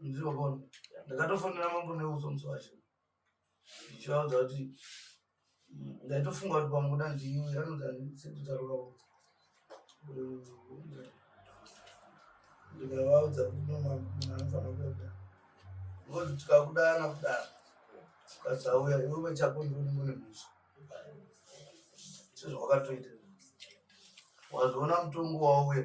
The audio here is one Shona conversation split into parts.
Nziwa kono. Ndakatofonera mambo neuzo musi wacho. Ndichivaudza kuti ndaitofunga kuti pamwe kuda ndiwe anonzi andisititaura kuti ndikavaudza kuti nomaanofanira kuenda ngozi tikakudana kudana ukasauya iwe chako ndiunenge une mhizvo sezvawakatoita wazoona mutongo wauya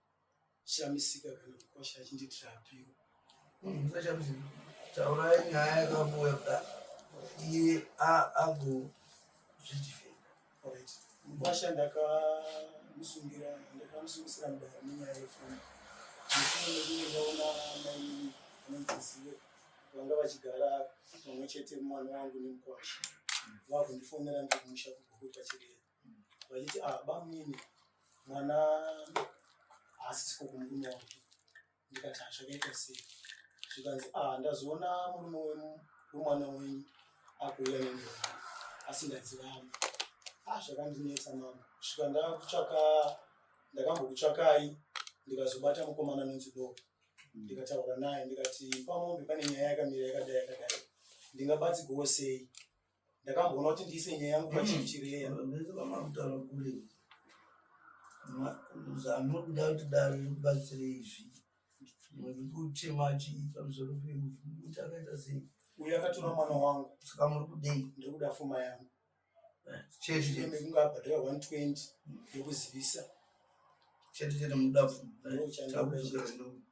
shamisika kana kukosha achinditira apiro musashamisika taurai nyaya yakavuya kuda iye agozvidifenda orit mukwasha ndakamusungira ndakamusungisira mudara nenyaya yefoni nekunge ndaona maimini anondizive vanga vachigara pamwe chete mwana wangu nemukwasha vakundifonera ndikumusha kugukuta chedera vachiti ah, bamnini mwana haasisiko kumurume wake ndikati hazvakaita ah, sei zvikanzi ah, ndazoona murume wemwana wenyu akuuya nemwana asi ndadzivamo ah, zvakandinetsa mama svika ndakutsvaka ndakambokutsvakai ndikazobata mukomana anonzi doko mm. ndikataura naye ndikati pamombe pane nyaya yakamira yakadai yakadai ndingabatsigowo sei ndakamboona kuti ndiise nyaya yangu pachief chireya vese vamakutaura kule anokuda kuti dare ribatsire izvi nekuchema chi pamusoro pekuti akaita sei uyo akatora mwana wangu saka muri kudei ndiri kuda fuma yangu eh, chetekunge abhadhara 120 yekuzivisa chete chete mudafu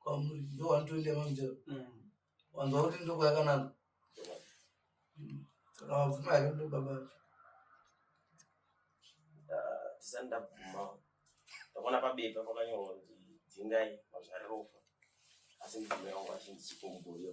kwamuri ndo 120 yemamutero wanzwa kuti ndiko yakananga saka wabvuma here ndo baba vacho tisani ndabvuma ndakaona pabepa pakanyorwa kuti dzingai mazvarirofa asi ndibvume wangu achindichikomboyo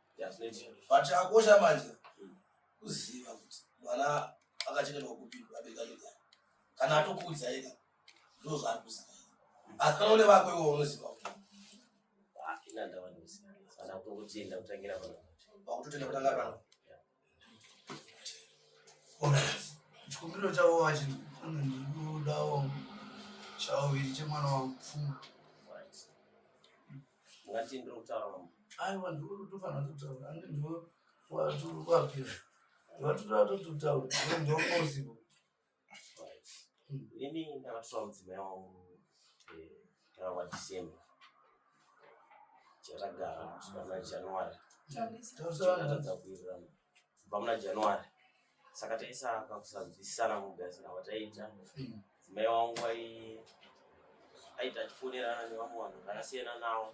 but chakakosha manje kuziva kuti mwana akachengetwa kupi abereka nyaya kana atokuudza ega ndo zvaari kuziva asi kana une vako iwo unoziva ah, inandavanoziva kana kutotenda kutangira pakuti totenda kutanga pano chikumbiro chavo vachi ndikudawo chavo viri chemwana wangu pfuma ngati ndiri kutaura mambo aiwa ndikutofanira kutaura ange ndo watukwapira watutoatototaura ndoposible ini ndakatora mudzimai wangu kana wadecember chatagara kusvika muna january tatadza kuwirirana kubva muna january saka taisaka kusanzwisisana kugadzira kwataiita mudzimai wangu aita achifonerana nevamwe vanhu vakasiyana nawo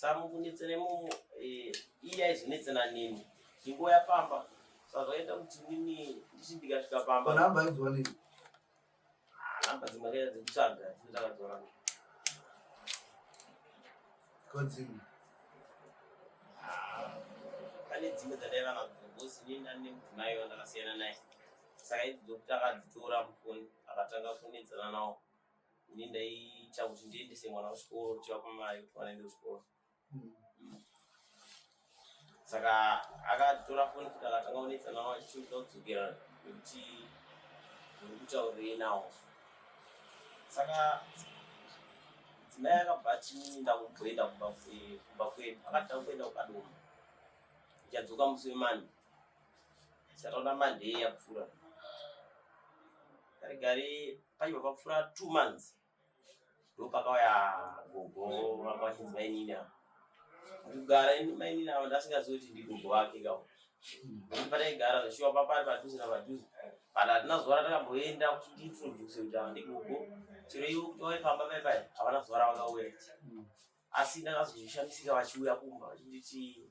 samukunetse nemumu eh, iye aizvinetse nanini ndingoya pamba sazvaita kuti nini ndichi ndikasvika pamba namba aidzwa nini ah, namba dzimwe kaita dzekutsvaga dzinotakadzora kodzimwe ah, pane dzimwe dzandaiva nadzo bosi nini ndane mudzimai wandakasiyana naye saka idzi dzokuti akadzitora mufoni akatanga kunetsana nawo ini ndaiita kuti ndiendese mwana kuchikoro ndichivapa mari kuti mwana aende kuchikoro hmm. saka akatora foni kuti akatanga kunetsa nawo achitoda kudzokera nekuti uri kutaurei nawo saka dzimai akabva atinda kumboenda kumba kwedu akatanga kuenda kukadoma ndichadzoka musi wemani Sataona Monday yapfura. Gari gari paiva papfura 2 months. Ndopakauya gogo vakawachinzi mainini ava. Kugara ini mainini ava ndasingazivi kuti ndigogo vake kawo. Pataigara zveshuwa papari padhuze napadhuze. Kana hatina zuva ratakamboenda kuti ndiintroduce kuti ava ndigogo. Chero ivo kuti vauye pamba pai pai havana zuva ravakauya. Asi ndakazozvishamisika vachiuya kumba vachinditi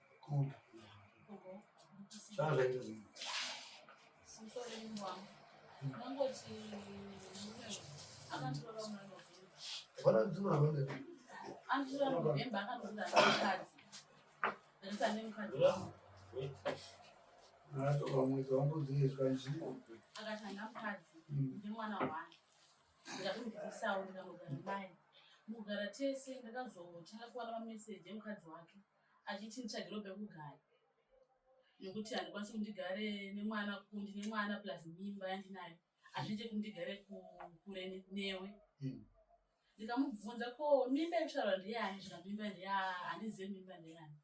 Mwedzi wangu dziizwa nzvimbo akatanga mukadzi ndimwana wake ndakatomudzisawo ndikangogara mai mugara tese ndakazotanga kuwana mameseji emukadzi wake achiti nditsvagirwe pekugara nekuti handikwanisi kundigare nemwana kundi nemwana plus mimba yandinayo hazviite kuti ndigare kure newe hmm. ndikamubvunza ko mimba yekutaura ndeyani zvika mimba ndeya handizive mimba ndeyani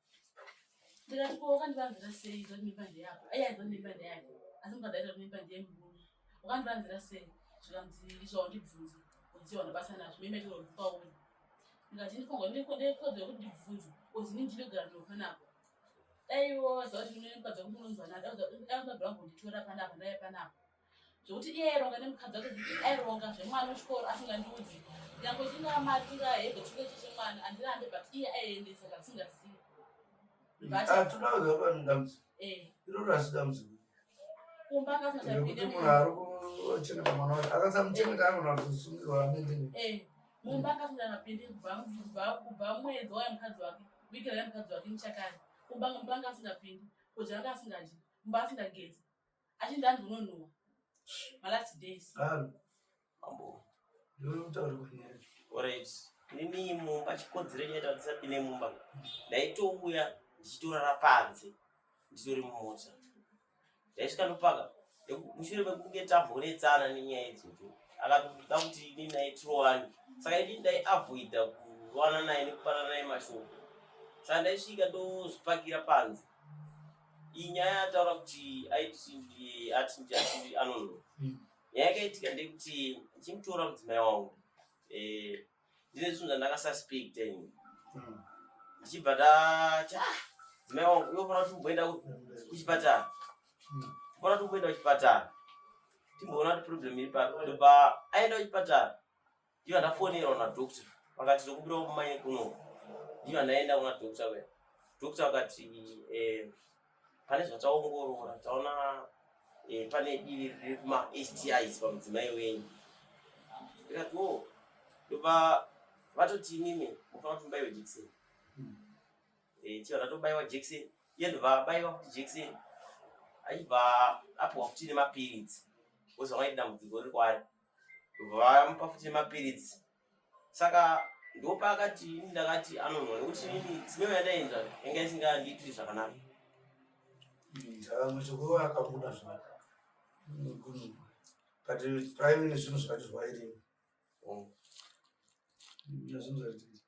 ndikati ko wakandivanzira sei zva mimba ndeyako ayi aiva mimba ndeyake asi mukadaita kuti mimba ndeye murume wakandivanzira sei zvikanzi izvo wandibvunza udziwa ndabasa nazvo mimba ichirobvukauri Ndikati ndifongwa ndiko ndikodzo yekuti ndibvunze kozi ini ndinogara ndopanapa. Dai ivo vaziva kuti mune mukadzi wekuti munonzwa nada auzabva kunditora panapa ndaive panapa. Zvekuti iye aironga nemukadzi wake kuti aironga zvemwana wechikoro asingandiudzi. Nyangwe chingamari chingahebhe chinge chechimwana andirambe but iye aiendesa kasingazivi. But- Atunauza vanhu dambudziko. Eh. Iroro asi dambudziko. kumba akasati apinde munhu ari kuchengeta mwana wake akasamuchengeta anogona kuzosungirwa amende eh, mumba akasati apinde kubva mwedzi waya mukadzi wake vhiki raya mukadzi wake muchakari kumba mumba anga asingapindi kudya anga asingadyi mumba asingagezi achindi andinonuwa malast days Mambo. Ndinoda kutaura kunyaya. Alright. Nini mumba chikodzero chaita tisapinde mumba. Ndaitouya ndichitorara panze. Nditori mumota. Ndaisvika ndopaka. Mushure mekunge tambonetsana nenyaya idzodzo. Akatoda kuti ini naye tirowane. Saka ini ndaiavoida kurowana naye nekupana naye mashoko. Saka ndaisvika ndozvipakira panze. Iyi nyaya ataura kuti aiti ati anonhuwa. Hmm. Nyaya yakaitika ndekuti ndichimutora mudzimai wangu eh, ndine zvinhu zvandakasuspect ini hmm. ndichibva ndati ah, mudzimai wangu unofanira kuti mumboenda kuchipatara hmm. unofanira kuti mumboenda kuchipatara timboona kuti problem iri papi ndopa aenda kuchipatara Ndiyo ndafonera kuna doctor vakati tokubira kumai kuno. Ndiyo ndaenda kuna doctor we. Doctor vakati eh pane zvataongorora taona eh pane divi riri kuma STIs pamudzimai wenyu. Ndikati wo oh. ndopa vatoti imimi mufanira kuti mubaiwe jekiseni. Hmm. Eh tiyo ndatobaiwa jekiseni. Iye ndovabaiwa kuti jekiseni aibva apiwa kuti nemapiritsi wozova idambudziko riri kwaari vamupa futi nemapiritsi saka ndopaakati ini ndakati anonwa nekuti ini simeo yataenda yanga isingandiitiri zvakanaka muzukuru akabuda zvaka but prime nezvinhu zvacho zvairimo oh. nezvinhu zvaitiri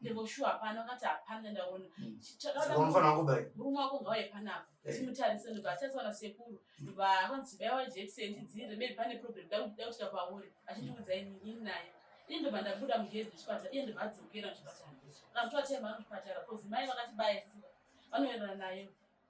ndevoshuwa hapana akati hapana ndaona hmm. murume wako ngauye panapa eh. timutarise ndobva achatswana sekuru ndobva akanzi baiwa jekiseni tidziire maybe pane problem dakuda kusvika pauri achindiudza inini naye ini ndobva ndabuda mugedhi chipatara iye ndobva adzokera muchipatara kana kuti vatemba anochipatara bcause mai vakati baya vanoenderana nayo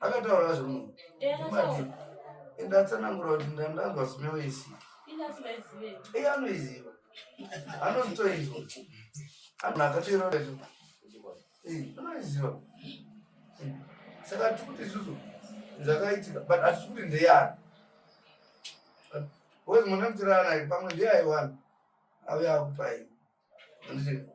akataura zvemunhu ende atsanangura kuti ndandanzwa smell isii iye anoiziva anozitoizwa akatoiroaiziva saka tikuti isusu zvakaitika but hatisi kuti ndeyani wezi mwana kutirana pamwe ndeyaiwani ave akupai anditi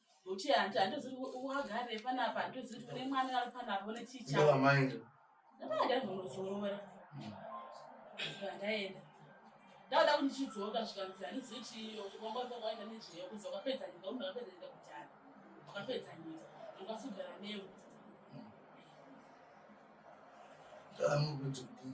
Muti hanti handizivi wagare panapa handizivi kune mwana ari panapa une chicha. Ndava maenda. Ndava ndari kunozorora. Ndaenda. Ndava kuti ndichidzoka zvikanzi handizivi chiyo chikomba kwakaenda nezveyo kunzi wakapedza nyika kuti wakapedza nyika kutanga. Wakapedza nyika. Ndakasugara newe. Ndava mukuti kudii.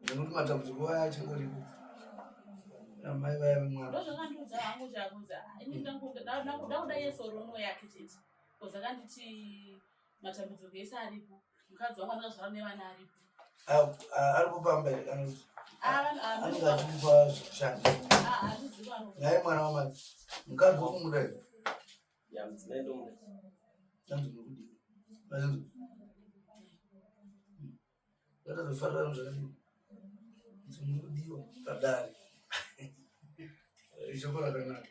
nekuti matambudziko aya achingoripo amai vaya vemwana ndozvakandiudza hangu chakuudza ini ndakuda kuda yeso rono yake chete bcoz akanditi matambudziko ese aripo mukadzi wangu anozvara nevana aripo aripo pamba here kana kuti anenge achikupa zvekushanda naye mwana wamai mukadzi wakumuda here Ndakazvifarira zvangu kuti muri kudiwa padare ishoko rakanaka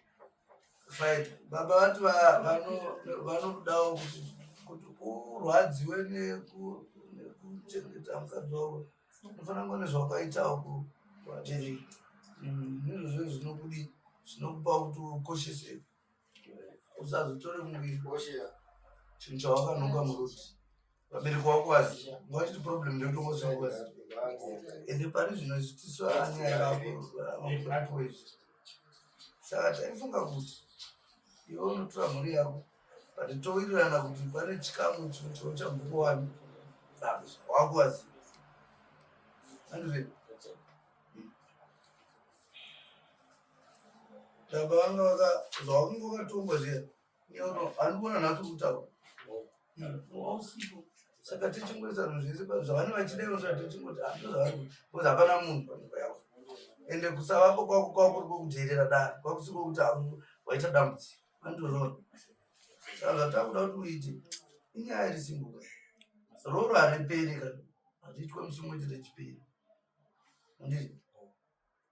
fine baba vati vanodawo kuti kuti urwadziwe nekuchengeta mukadzi wavo unofanira kuva nezvawakaitawo kuvatiri mm, izvozvo zvinokudi zvinokupa kuti ukosheseke usazotore muiosheya chinhu chawakanonga muruti vabereki wako asi ngawachiti problem ndotokosokoz ende pari zvino zvitiso anyaya vako saka taifunga kuti iwe unotora mhuri yako but towirirana kuti pane chikamu chochambukuwani wako asi andizvei ndakavanga vaka zvaunge wakatongwa zviya nyono handikuona nhasi kutaura wausipo saka tichingoisa zvinhu zvese zvavane vachidero zva tichingoti hando zvavari kuti kozi hapana munhu panhimba yavo ende kusavako kwako kwako kuri kwokudherera dare kwakusiko kuti hauno waita dambudziko andozvona saka zvatakuda kuti uite inyaya iri simbuka roro hariperi kana hazviitwe musi umwe chete chiperi andiri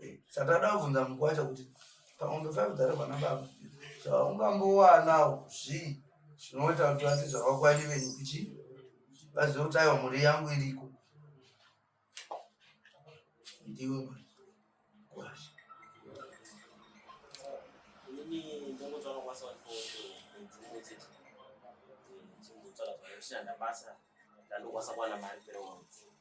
Eh, Satana avunza mukwacha kuti pamombe five dzari vana baba zvaungambowanawo zvii zvinoita kuti vati zvavakwani venyu kuchi vazive kuti aiwa mhuri yangu iriko ndiwe mukwacha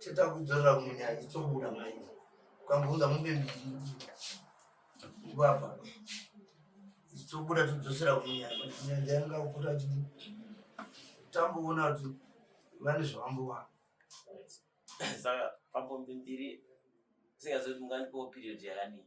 Cheta kudzorera munya itsobuda mai. Ukambounza mombe mbiri. Ngwapa. Itsobuda tudzosera munya. Nyanja yanga ukuta chidi. Tamboona kuti vane zvavambowa. Saka pambombi mbiri. Singazoti mungandipowo period yakadii?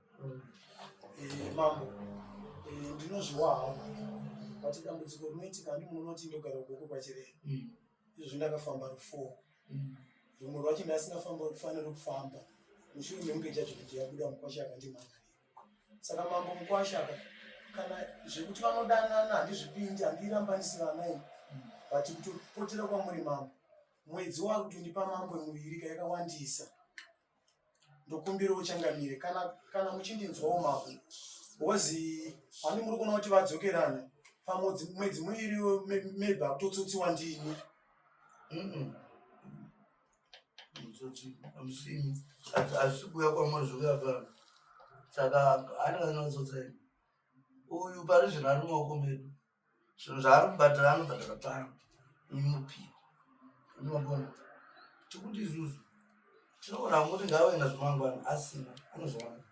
Eh, mambo eh, ndinozviwa hangu but dambudziko rinoitika handi munoti ndogara ukoko kwachirei mm. izvozvi ndakafamba rufo mm. rumwe rwacho ndasingafamba rufanira kufamba mushure mekunge chacho kuti yabuda mukwasha akandimhangarira saka mambo mukwasha ka kana zvekuti vanodanana handizvipindi handirambanisi vanai mm. but kutopotera kwamuri mambo mwedzi wakutondipa mambo muviri kayakawandisa ndokumbira uchangamire kana kana muchindinzwawo mavo hozi hani muri kuona kuti vadzokerana pamwedzi mwedzi muiri maybe akutotsotsiwa ndini mutsotsi amusini asi kuya kwamuri zvokuya pano saka anenge anotsotsa ini uyu pari zvino ari mumaoko medu zvinhu zvaari kubhadhara anobhadhara pano inopiwa unogona tikuti isusu tinoona kuti ngave nazvemangwana asina anozviwana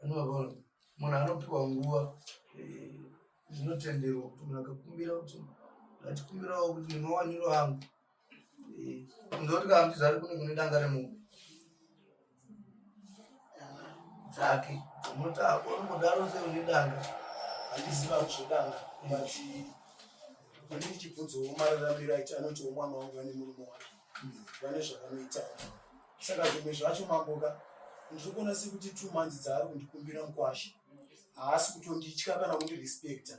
unogona munhu anopiwa nguva eh, zvinotenderwa kuti munhu akakumbira kuti ndachikumbirawo kuti ndinowaniro angu Ndoti kana kuti zari kune kune danga remombe. Dzake. Unoti ako unodaro sei une danga. Handiziva kuzodanga. But ini ndichibvunzawo mararamiro aiti anotiwo mwana wangu vane murume wake. Vane zvavanoita. Saka zvimwe zvacho mamboka ndiri kuona sekuti two months dzaari kundikumbira mukwasha. Haasi kutonditya kana kundirespecta.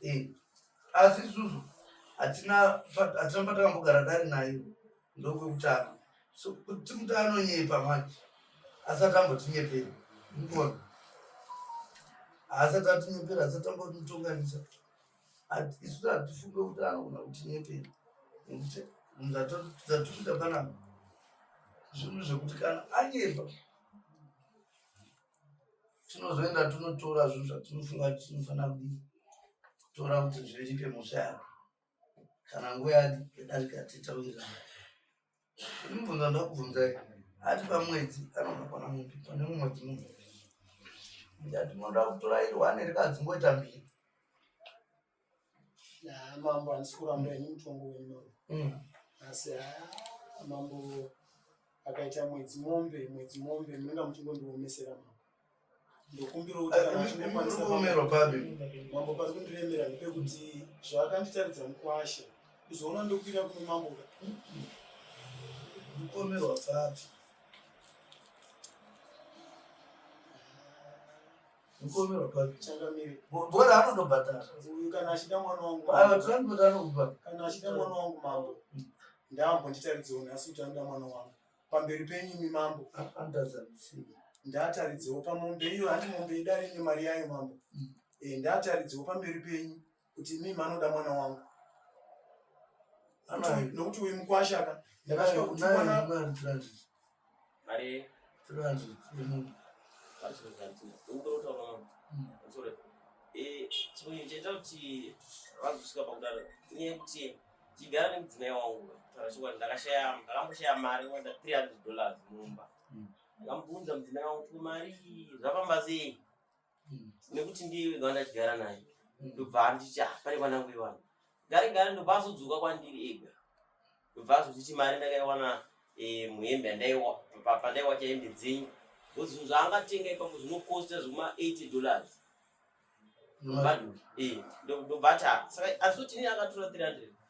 Eh, asi isusu hatina fa- hatina patakambogara tari nayo ndokwekutanga so kuti kuti anonyepa manje asati ambotinyepera mukona haasati atinyepera asati ambotitonganisa Hati- isusu hatifunge kuti anogona kutinyepera nekuti zvatikuita panapa zvinhu zvekuti kana anyepa tinozoenda tonotora zvinhu zvatinofunga kuti tinofanira kutora kuti zviripe musha yako kana nguva yadarika titawirirana imubvunza ndakubvunzai ati pamwedzi anonokwana mupi pane mumwedzi mumwe ndati munoda kutora iri wane rikadzi ngoita mbiri Ah, mambo handisi kuramba ini mutongo wenyu Mm. asi ah, mambo akaita mwedzi mombe mwedzi mombe munenge muchingondiomesera mambo ndokumbira kuti kana muchingokwanisa mambo- Umerwa papi? mambo pari kundiremera ndepekuti zvaakanditaridza mukwasha kuzoona ndokuira kuno mambo ka Umerwa papi? Mukomero papi? Changamire. Bora anondobhadhara. Uyu kana achida mwana wangu. Ava transport anokubhadhara. Kana achida mwana wangu mambo. Ndambo nditaridzewo nhasi kuti anoda mwana wangu. Pamberi penyu imi mambo. Andaza misiyo. Ndataridzewo pamombe iyo handi mombe idari nemari yayo mambo. Mm. Eh, ndataridzewo pamberi penyu. kuti imi manoda mwana wangu nokuti uyu mukwashaka ndakasvika kuti mwana chimwe chaita kuti vazosvika pakudaro inyaya yekuti chigara nemudzimai wangu taura chokwadi ndakashaya ndakamboshaya mari wenda 300 dollars mumba ndakambunza mudzimai wangu kuti mari zvafamba sei mm. nekuti ndiye wega wandatigara naye mm. ndobva anditi ah, pane kwanangu iwana gare gare ndobva azodzoka kwandiri ega ndobva azotiti mari ndakaiwana eh, muhembe yandaiwa pandaiwa chahembe dzenyu because zvinhu zvaangatenga ipapo zvinokosta zvekuma 80 dollars ndobva eh, ndobva ta saka asi kuti ini akatora 300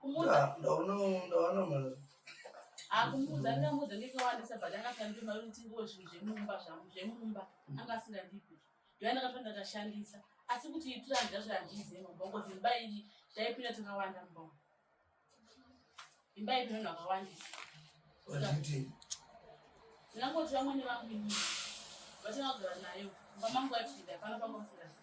Kumuza. Ndaona ndaona mwana. Akumuza ndamuza ndikawandisa but akatambira mari kuti ngo zvinhu zvemumba zvangu zvemumba anga asingandipi. Ndiye ndakatanga ndashandisa. Asi kuti itira ndazvo handizi mabongo zimba iri taipira takawanda mbongo. Imba iri vanhu vakawandisa. Wazviti. Ndinangoti vamwe nevangu ini. Vatanga kugara nayo. Mama mangu achida pano pangu asingazi.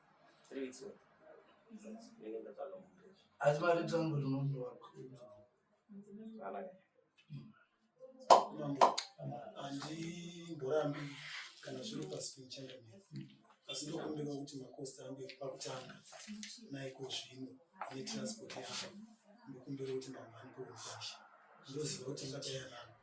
asi mari tangu rinondowa handimborambi kana zviri pasi penichanda asi ndokumbira kuti makosti ange pakutanga naiko zvino netransport yavo ndokumbira kuti mamhani poeasha ndoziva kuti ngatayanapo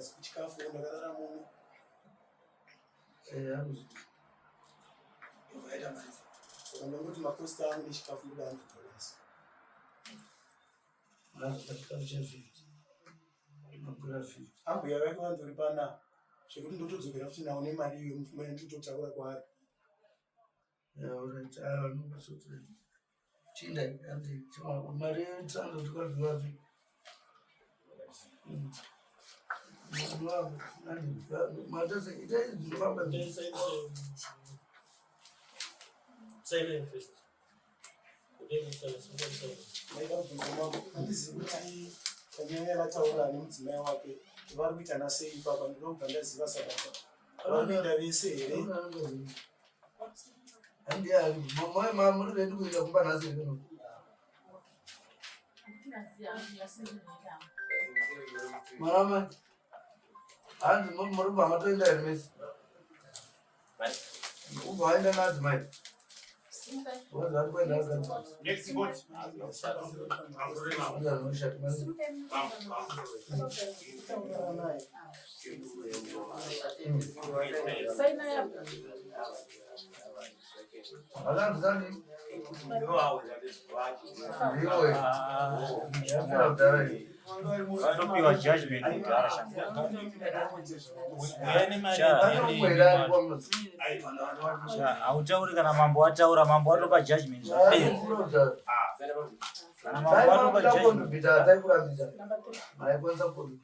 asi kuchikafu ndakarara muno eh, aita maiza ndangoti makosta angu nechikafu ndoda andogonesa azvachikafu chafiti mapura fiti ambuya vake vandori pana zvekuti ndotodzokera futi nawo nemari iyo mufumane titotaura kwaari Silent first. handizivi kuti kanyaya yavataura ane mudzimai wake vari kuita nasei ipapa ndinobva ndaziva sababa vanoenda vese here Mwanamai, hanzi muri kubva matoenda here mese? Ubva waenda nadzo mai? Next vanopiwa judgment kudhara hautauri kana mambo wataura mambo watopa judgment zvapera kana mambo watopa judgment